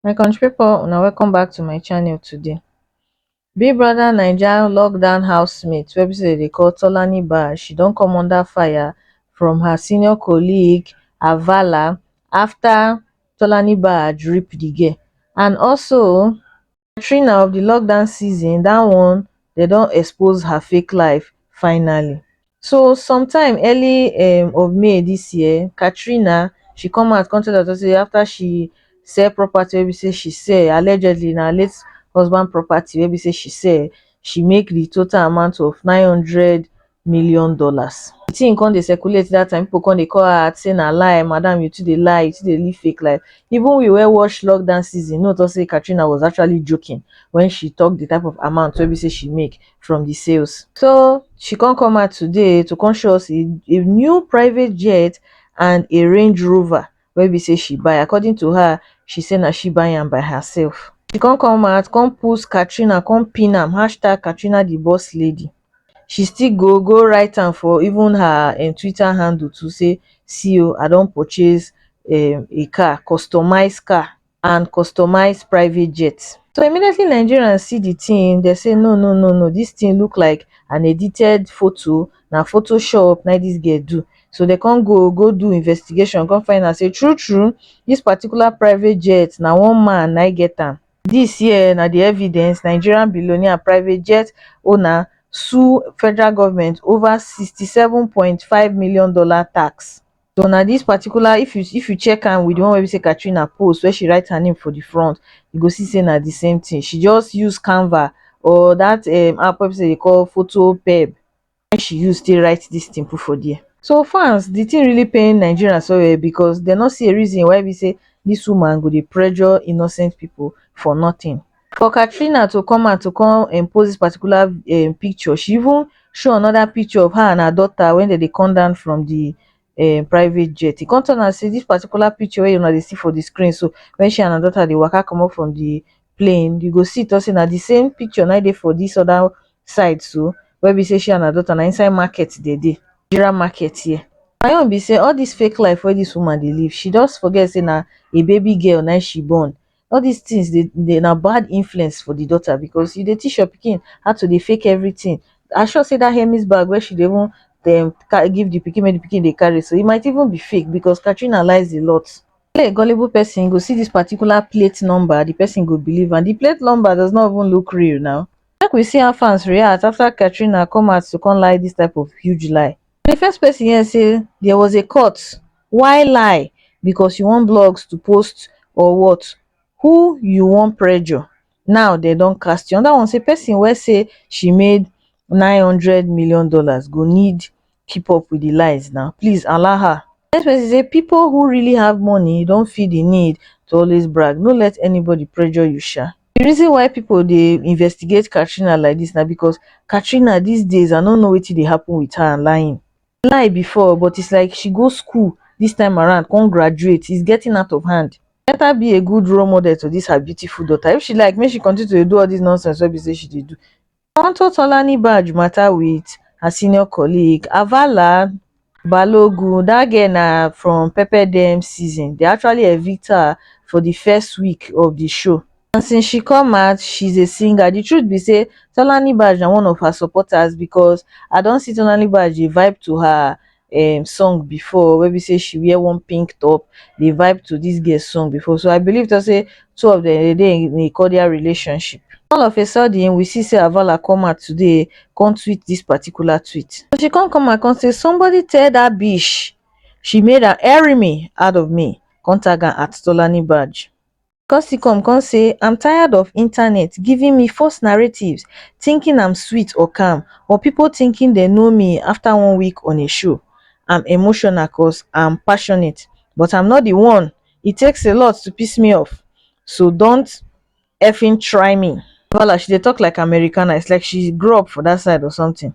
my country people una welcome back to my channel today big brother naija lockdown housemate wey be say dem dey call tolani bar she don come under fire from her senior colleague avala after tolani bar drip the girl and also katrina of di lockdown season dat one dem don expose her fake life finally so sometime early um of may dis year katrina she come out come tell us say after she sell property wey be say she sell allegedly na her late husband property wey be say she sell she make di total amount of nine hundred million dollars. The thing come dey circulate that time, people come dey call her say na lie, madam you too dey lie, you too dey live fake life. Even we wey watch lockdown season know talk say Katrina was actually joking when she talk the type of amount wey be say she make from the sales. So she come come out today to come show us a, a new private jet and a Range Rover wey be say she buy. According to her, she say na she buy am by herself. She come come out, come post Katrina, come pin am, hashtag Katrina the boss lady. she still go go write am for even her um twitter handle too say see oo i don purchase um a car customised car and customised private jet so immediately nigerians see di tin dem say no no no no dis tin look like an edited foto na foto shop nai dis girl do so dem come go go do investigation come find out say true true dis particular private jet na one man nai get am dis here na di evidence nigerian billionaire private jet owner sue federal goment ova sixty seven point five million dollar tax so na dis particular if you if you check am with di one wey be say Catriona post wey she write her name for di front you go see say na di same tin she just use canva or dat um app wey be say dem dey call photo peb wey she use take write dis thing put for there. So fans, the thing really pain Nigerians well well because dem no see a reason why be say this woman go dey pressure innocent people for nothing. For Katrina to come out to come um post this particular um picture, she even show another picture of her and her daughter when dem dey come down from the um private jet. E come tell una say this particular picture wey una dey see for the screen so, when she and her daughter dey waka comot from the plane, you go see talk say na the same picture na im dey for this other side so wey be sey she and her daughter na inside market dey dey, Nigerian market here. My own be sey all dis fake life wey dis woman dey live, she just forget sey na a baby girl na im she born. All dis things dey dey na bad influence for the daughter because you dey teach your pikin how to dey fake everything. I sure sey dat Hermes bag wey she dey even dem carry give the pikin make the pikin dey carry so, e might even be fake because Katrina lies a lot. If a gullible person go see dis particular plate number, the person go believe am. The plate number does not even look real na. make we see how fans react after catrina come out to come lie dis type of huge lie i be di first person hear say there was a court why lie because you want blogs to post or what who you want pressure now dem don cast you anoda one say person wey say she made nine hundred million dollars go need keep up with the lies na please allow her next person say people who really have money don feel the need to always brag no let anybody pressure you sha the reason why people dey investigate Katrina like this na because Katrina this days I no know wetin dey happen with her and lying she lie before but it's like she go school this time around come graduate it's getting out of hand let her be a good role model to this her beautiful daughter if she like make she continue to dey do all this nonsense wey be say she dey do unto tolani barge matter with her senior colleague avala balogun dat girl na from pepper dem season dey actually evict her for the first week of the show and since she come out she's a singer the truth be say tolani barge na one of her supporters because i don see tolani barge dey vibe to her um song before wey be say she wear one pink top dey vibe to this girl song before so I believe to say two of them dey dey in a cordial relationship all of a sudden we see say Avala come out today come tweet this particular tweet so she come come out come say somebody tell that bish she made an erimi out of me come tag am at Tolani Baj. Corsican come say, I'm tired of internet giving me false narratives, thinking I'm sweet or calm, or people thinking they know me after one week on a show. I'm emotional cause I'm passionate, but I'm not the one. It takes a lot to piss me off, so don't effing try me. Wala, she dey talk like Americana, it's like she grow up for that side or something.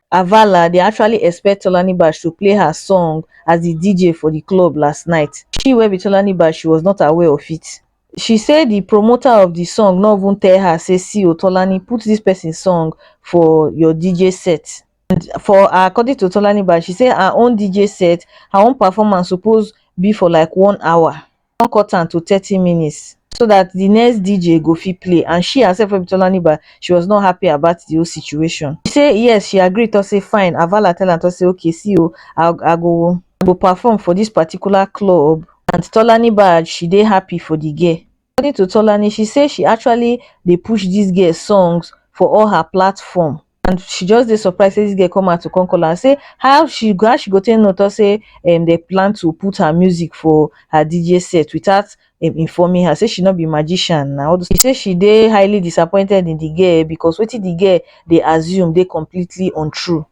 avala dey actually expect tolani baj to play her song as di dj for di club last night she wey be tolani baj she was not aware of it she say di promoter of di song no even tell her say see o tolani put dis pesin song for your dj set and for her according to tolani baj she say her own dj set her own performance suppose be for like one hour come cut am to thirty minutes so that the next DJ go fit play and she herself wey be Tolani Ba she was not happy about the whole situation she say yes she agree talk say fine Avala tell am talk say okay see o I, I go I go perform for this particular club and Tolani Ba she dey happy for the girl according to Tolani she say she actually dey push this girl songs for all her platform and she just dey surprised say dis girl come out to come call am say how she go how she go take know talk say um dem plan to put her music for her DJ set without um informing her say she no be magician na all those she say she dey highly disappointed in the girl because wetin the girl dey assume dey completely untrue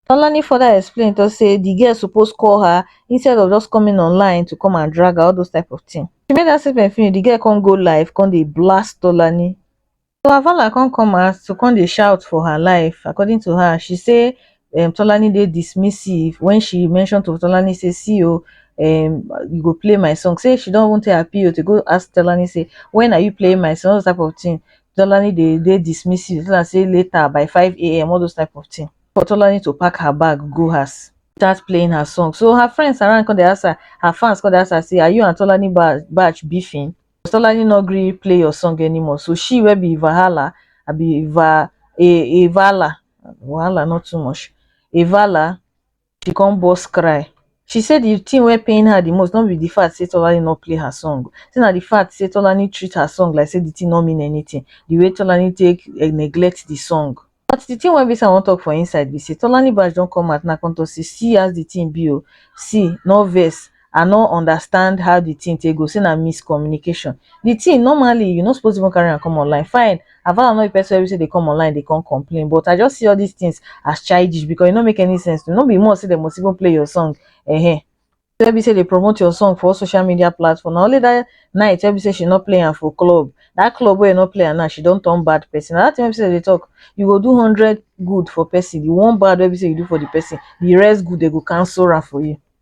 tolani further explain tok say di girl suppose call her instead of just coming online to come and drag her all those type of tin she make dat statement finish di girl come go live come dey blast tolani so avala come come out to come dey shout for her life according to her she say um tolani dey dismissive wen she mention to tolani say see o um you go play my song say she don even tell her PO to go ask tolani say wen are you playing my song all those type of tin Tolani dey dey dismissive so dat sey later by five am all those type of thing for Tolani to pack her bag go house start playing her song so her friends around come dey ask her, her fans come dey ask her sey are you and Tolani batch beefing cause Tolani no gree play your song anymore so she wey be Valha abi va a a valha, wahala no too much, a valha she come burst cry she say the thing wey pain her the most no be the fact say tolani no play her song say na the fact say tolani treat her song like say the thing no mean anything the way tolani take neglect the song but the thing wey be say i wan talk for inside be say tolani bash don come out now konto say see as the thing be o see no vex I no understand how the thing take go, say na miscommunication. The thing normally you no suppose even carry am come online. Fine, Avala no be person wey be say dey come online dey come complain but I just see all these things as childish because e no make any sense. No be more say dem must even play your song. Ehen. wey be say dey promote your song for all social media platform na only that night wey be say she no play am for club that club wey you no play am now she don turn bad person na that thing wey be say dem dey talk you go do hundred good for person the one bad wey be say you do for the person the rest good dem go cancel am for you